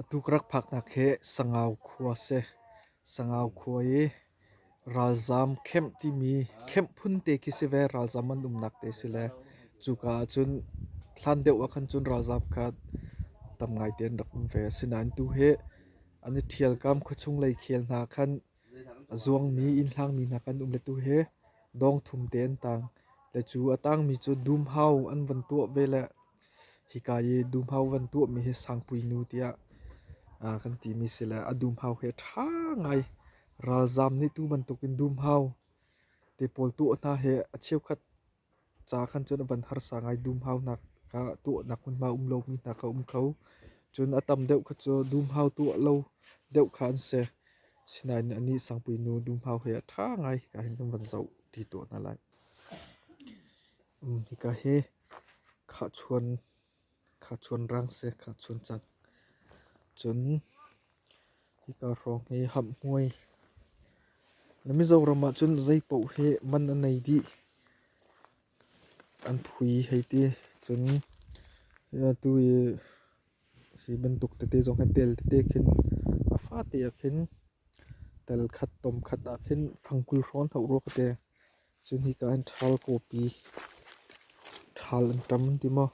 Atu ka rak phaknak hi Sangau khua a si. Sangau khua i ralzaam khemh timi khemh phun te khi si ve. Ralzaam an umnak te si le cuka ah cun hlan deuh ah khan cun ralzaam kha tam ngaite an rak um ve. Asinain tu hi an i ṭhialkam khuachung lei khel hna khan A zuangmi innhlangmi hna kan um le tu hi dawng thum te an tang. Le cu a tangmi cu dumhau an van tuah ve le hika i dumhau van tuahmi hi sangpuinu tiah aa kan timi si le a dumhau hi a ṭha ngai. Ralzaam nih tu bantukin dumhau te pawl tuah hna hi a cheukhat Ca kan cuanh a van harsa ngai. Dumhaunak ah tuahnak hmunhma um lomi hna kha a um kho. Cun a tam deuh kha cu dumhau tuah lo deuh kha an si. Sinain anih Sangpui nu dumhau he a ṭha ngai hika hin kan van zoh ti tuah hna lai. Hika hi khahchuan Kha chun rang seh, kha chun cak. Cun hika hrawng hi hamhmuai. Na Mizoram ahcun zeipaoh hi man a nei dih. An phui hei ti. Cun atu i hi bantuk tete zong hi tel tete khin a fate ah khin tel khat, tom khat ah khin fangkul hrawn hau rua ka te. Cu hika an ṭhal kawpi ṭhal an ṭam an ti maw?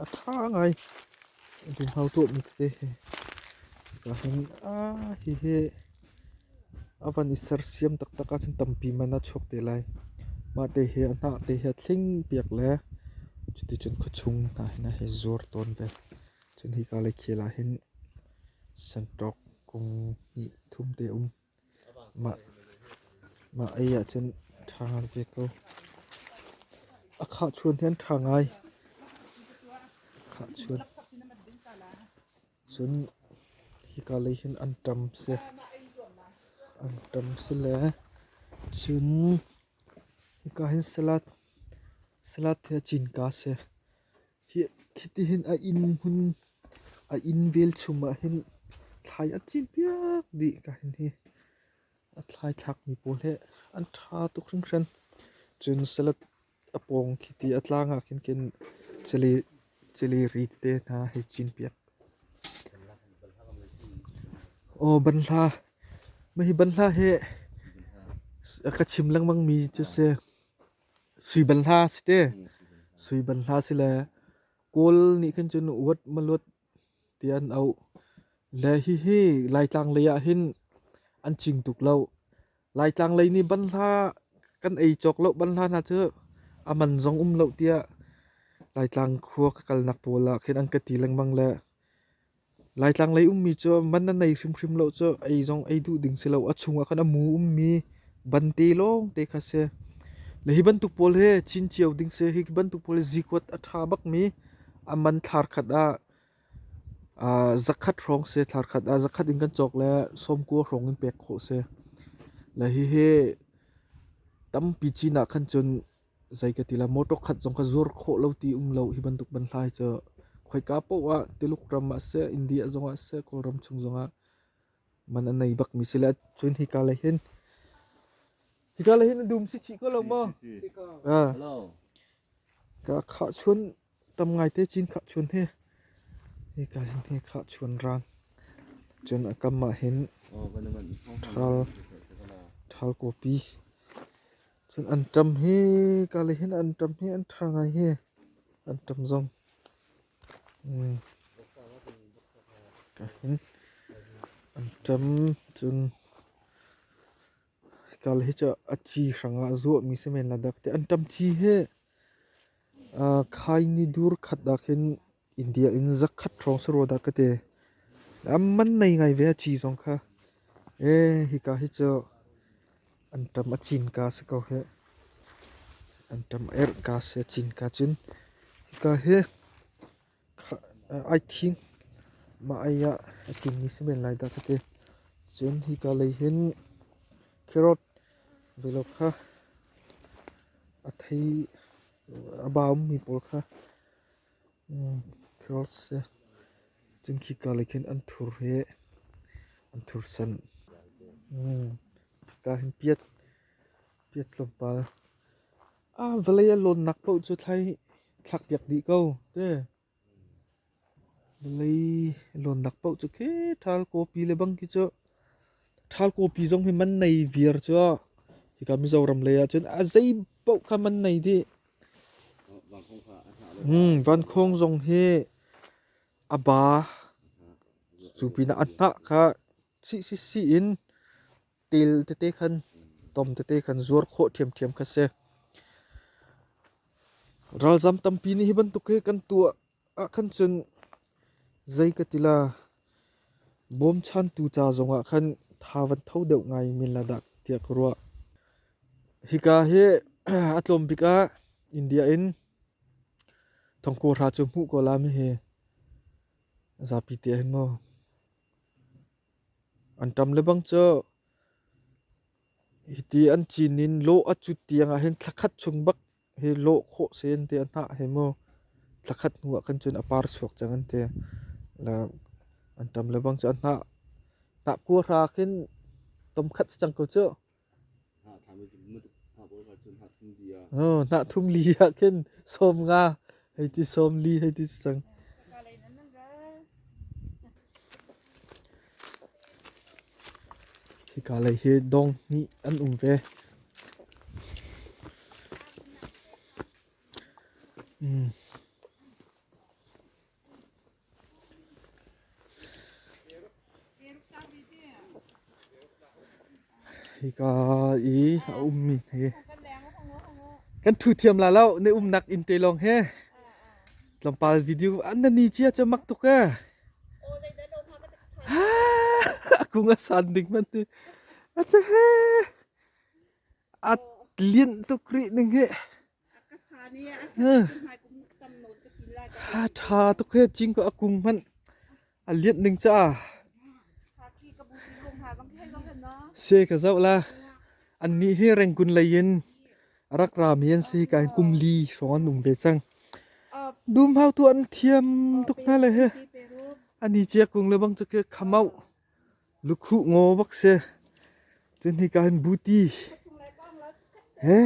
A ṭha ngai. Duhno tuahmi tete hi. Hika hin aa hihi a van i sersiam taktak ahcun tampi man a chuak te lai. Mah te hi a hnah te hi a thling piak le cuticun khuachung hna hin a hi zuar tawn ve. Cun hika le khel ah hin santawk kung hnih thum te um. Mah ei ahcun ṭha veve ko. A khahchuan hi an ṭha ngai. Khahchuan. Cun hika lei hin an ṭam si. An ṭam si le cun hika hin salad salad hi a cinka a si. Khitihin a inn hmun, a inn velchum ahhin thlai a cin piak dih ka hin hi. A thlai thlakmi pawl hi an ṭha tuk hringhran. Cun salad a pawng khiti a tlang ahkhin khin cili, cili ri tete hna hei cin piak. Aw banhla, mah hi banhla hi ka chim lengmangmi cu si. Sui ban hla si te. Sui ban hla si le kawl nih khin cun uat maluat ti an auh. Le hihi Laitlang lei ah hin an cing tuk lo. Laitlang lei nih ban hla kan ei cawk lo ban hla hna cu a man zong um lo tiah Laitlang khua ka kalnak pawl ah khin an ka ti lengmang le Laitlang lei ummi cu man na nei hrimhrim lo cu ei zong ei duh ding si lo. A chungah khan a mu ummi bante lawngte kha si. Le hi bantuk pawl hi chin cio ding si. Hi bantuk pawl hi zikuat a ṭha bakmi a man thlar khat ah aa zakhat hrawng si. Thlar khat ah zakhat in kan cawk le sawmkua hrawng in pek khawh si. Le hihi tampi cin ah khan cun Zei ka ti la motor khat zong ka zuar khawh lo ti um lo. Hi bantuk banhlai cu khoika paoh ah Tiluk ram ah seh, India zong ah seh, Kawlram chung zong ah man a nei bak mi si le. Cun hika lei hin hika lei hin a dum si chih ko lo maw? Ka khah chun Tam ngaite cin khahchun hi hika hin hi khahchun ran. Cun a kam ah hin ṭhal kupi. Cun an ṭam hi kale hin an ṭam hi an ṭha ngai hi an ṭam zong. Ka hin an ṭam cun Kal hi cu a ci hrang ah a zuahmi si men Ladakh tiah an ṭam ṭi hi. Khai ni dur khat ah khin India in zakhat hrawng si rua dah ka ti. A man nei ngai ve a ci zong kha. Ee, hika hi cu an ṭam a cinka si ko hi. An ṭam erh ka si, a cinka cun. Hika hi ai thing. Mah ei ah a cingmi si men lai dah ka ti. Cun hika lei hin carrot velo kha a thei a baumi pawl kha carrot si. Cun khika lei khin an thur hi an thursan. Hika hin piat tlawmpal A vawlei a lawnnak paoh cu thlakpiak dih ko te. Vawlei lawnnak paoh cu khi ṭhal kawpi le bang khi cu ṭhal kawpi zong hi man nei viar cu hika Mizoram lei ah cun a zei paoh kha man nei dih. Vankhawng zong hi a ba cu pinah a hnah kha Chih sisi in til tete khan, tom tete khan zuar khawh ṭhiamṭhiam kha si. Ralzam tampi nih hi bantuk hi kan tuah ah khan cun zei ka ti la bawmchantu ca zongah khan tha van tho deuh ngai men la dah tiah ka ruah. Hika hi a tlawm bik ah India in thongkawhra cu hmuh ko la mi hi zapi te hin maw. An ṭam lebang cu hiti an cin in lawh a cut tiangah hin thla khat chung bak hi lawh khawh si an ti a hnah he maw thla khat hnu ah khan cun a par chuak cang an ti. La an ṭam lebang cu a hnah hnah kua hra khin tom khat si cang ko cu. Hnahthum li ah khin sawm nga hei ti sawm li hei ti si cang. Hika lei hi dong hnih an um ve. Mm. Hika i a ummi hi kan thu thiam la lo. Na umnak inn te lawng he tlawmpal video an na ni cia cu mak tuk e. Ha! A kung a san ding man ti. A ce he! A lianh tuk rih ning hi. Ha ṭha tuk hi cingko a kung hmanh a lianh ning ca. Se ka zoh la. An nih hi rengkun lei in rak rami an si ka kum li hrawng an um ve cang. Dum hau tu an thiam tuk hna le he. Ani cia kung le bang cu ke khamau. Lukhuh ngaw vak si, cun hika hin buti he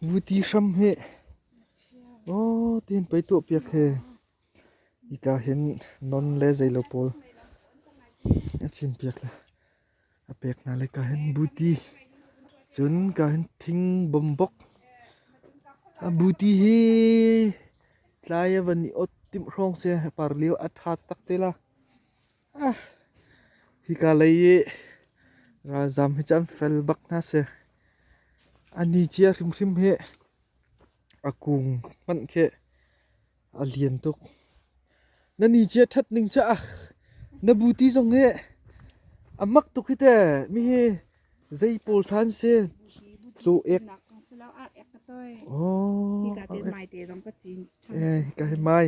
buti hram hi aw tiin pei tuahpiak he hika hin non le zei lo pawl a cin piak le. A pek hna lai kaa hin buti. Cun kaa hin thing bombok. A buti hi tlai a van i ot timh hrawng se a par lio a ṭha tak te la. Ah, hi ka lei i ralzam hi cun fel bak hna se. A ni cia hrimhrim hi a kung hmanh khi a lian tuk. Na ni cia ṭhat ning cu ah na bu ti zong hi a mak tuk hi te mi hi zei pawl than se Cu ek. Aw. Hi ka te mai te zong ka cin. Eh, kai mai.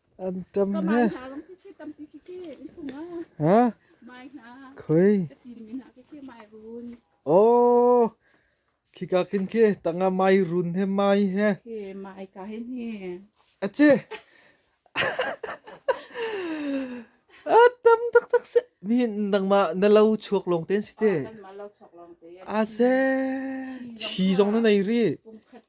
An tam he. Ha? Khoi. Oh. Khika kin khi tanga mai run he mai he. He mai ka he ni. Achi. Ah tam tak tak se. Mi nang ma na lau chuak long ten si te. Ah se. Chi zong na nei ri.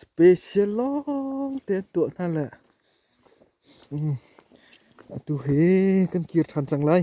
Special lawng te an tuah hna le atu hi kan kir ṭhan cang lai.